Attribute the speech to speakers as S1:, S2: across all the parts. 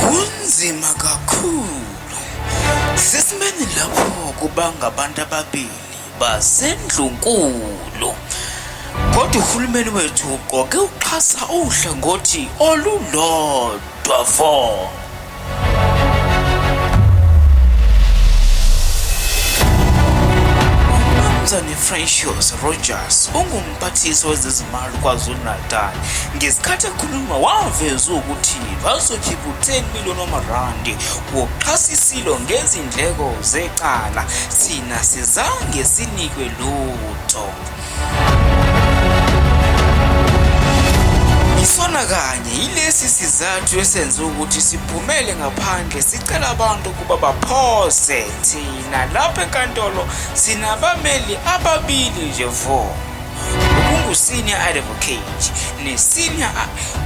S1: Kunzima kakhulu sesimeni lapho kubanga abantu ababili basendlunkulu kodwa uhulumeni wethu uqoke uxhasa uhlangothi olulodwa. Dwavo. uMnumzane Francois Rogers ungumphathiswa wezezimali KwaZulu-Natal ngesikhathi ekhuluma waveza ukuthi bazokhipha u-10 million wamarandi wokuxhasa isilo ngezindleko zecala thina sizange sinikwe lutho Isona kanye yilesi sizathu esenze ukuthi siphumele ngaphandle sicela abantu ukuba baphoze thina lapha enkantolo sinabameli ababili nje vo okungu-senior advocate ne-senior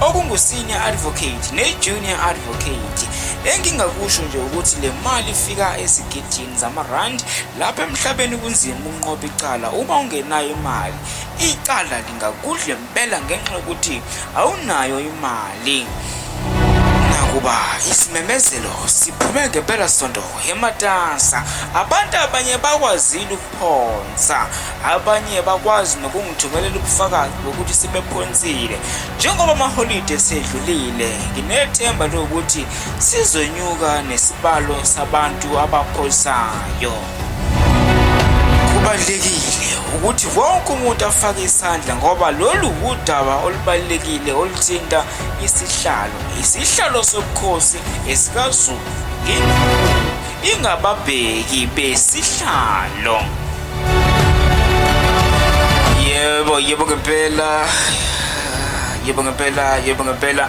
S1: okungu-senior advocate ne-junior advocate engingakusho nje ukuthi le mali ifika esigidini zamarandi lapha emhlabeni kunzima ukunqoba icala uma ungenayo imali icala lingakudle mpela ngenxa yokuthi awunayo imali nakuba isimemezelo siphume ngempela sonto ematasa abantu abanye bakwazile ukuphonsa abanye bakwazi nokungithumelela ubufakazi bokuthi sebephonsile njengoba amaholide esedlulile nginethemba lokuthi Sizonyuka nesibalo sabantu abaphosayo. Kubalulekile ukuthi wonke umuntu afake isandla ngoba lolu wudaba olubalulekile oluthinta isihlalo isihlalo sobukhosi esikazulu ingababheki besihlalo yebo yebo ngempela yebo ngempela yebo ngempela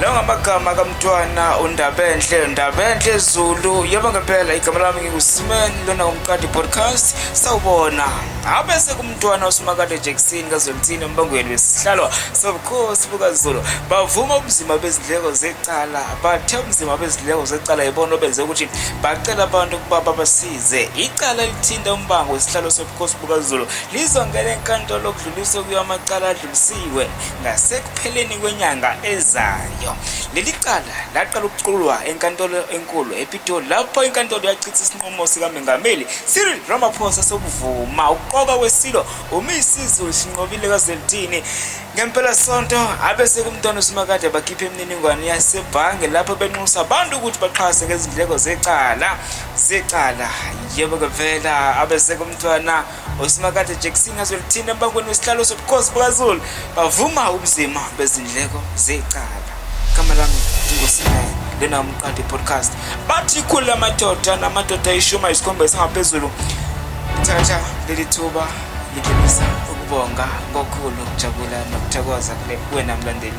S1: lawo ngamagama kamntwana undabenhle ndabenhle zulu yebo ngempela igama lami ngingusimeni lona umqadi podcast sawubona abe sekumntwana usimakade jackson kazolithini embangweni wesihlalwa sobukhosi bukazulu bavuma ubunzima bezindleko zecala bathe ubunzima bezindleko zecala yibona obenze ukuthi bacela abantu ukuba babasize icala elithinta umbango wesihlalo sobukhosi bukazulu lizongena enkantolo kudluliswe kuyo amacala Siwe ngasekupheleni kwenyanga ezayo. Leli cala laqala ukuculwa enkantolo enkulu ePitoli lapho inkantolo yachitha isinqumo sikaMengameli Cyril Ramaphosa sokuvuma ukuqoka kweSilo uMisizi Sinqobile kaZwelithini ngempelasonto abese kumntwana uSimakade bakhipha imininingwane yasebhange lapho benxusa abantu ukuthi baxhase ngezindleko zecala zecala yebo kevela abese kumntwana uSimakade Jackson azolithinta embangweni wesihlalo sobukhosi bukaZulu bavuma ubuzima bezindleko zecala igama lami ndingosimaye lena umqadi podcast bathi ikhulu lamadoda namadoda ayishumi ayisikhombisa ngaphezulu thatha leli thuba ngidlulisa ukubonga kokhulu ukujabula nokuthokoza kule kuwena mlandeli